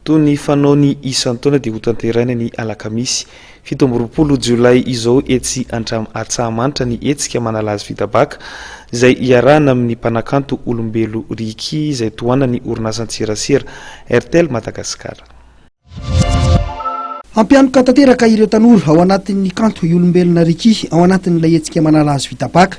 Toy ny fanaony isan-taona dia hotanterahina ny alakamisy fito amby roapolo jolay izao etsy Antramo Antsahamanitra ny hetsika manala azy vita baka izay iarahana amin'ny mpanakanto Olombelo Ricky izay tohanan'ny orinasan-tserasera Airtel Madagasikara. Hampianoka tanteraka ireo tanora ao anatin'ny kanto i Olombelona Ricky ao anatin'ilay hetsika manala azy vita baka.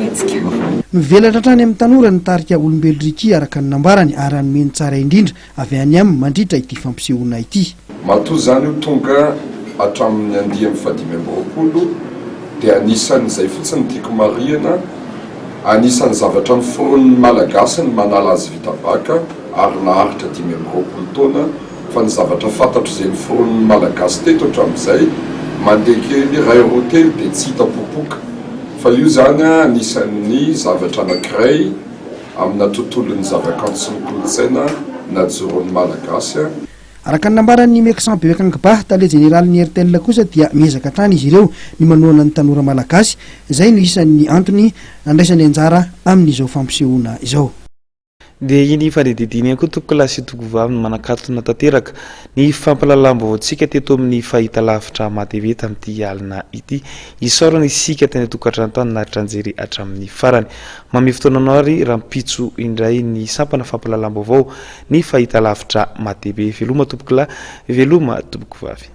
hetsika. Mivelatra hatrany amin'ny tanora ny tarika Olombelo Ricky araka ny nambarany ary hanome ny tsara indrindra avy any aminy mandritra ity fampisehoana ity. Matoa izany io tonga hatramin'ny andiany fahadimy amby roapolo dia anisan'izay fotsiny tiako marihina, anisan'ny zavatra noforonin'ny Malagasy ny manala azy vita baka ary naharitra dimy amby roapolo taona Fa ny zavatra fantatro izay noforonin'ny Malagasy teto hatramin'izay, mandeha kely iray roa telo dia tsy hita popoka. Fa io izany anisan'ny zavatra anankiray amina tontolon'ny zavakanto sy ny kolontsaina najoron'ny Malagasy. Araka ny nambaran'i Meksan Bewekang Bah, tale jeneralin'ny Airtel kosa dia miezaka hatrany izy ireo ny manohana ny tanora Malagasy. Izay no isan'ny antony andraisany anjara amin'izao fampisehoana izao. Dia iny fandidiana iny koa toko lahy sy toko vavy no manakatona tanteraka ny fampahalalam-baovaontsika teto amin'ny fahitalavitra Matv tamin'ity alina ity. Isaorana isika teny an-tokantrano tany naritra nijery hatramin'ny farany. Mamehy fotoananao ary rahampitso indray ny sampana fampahalalam-baovao ny fahitalavitra Matv. Veloma tompoko lahy, veloma tompoko vavy.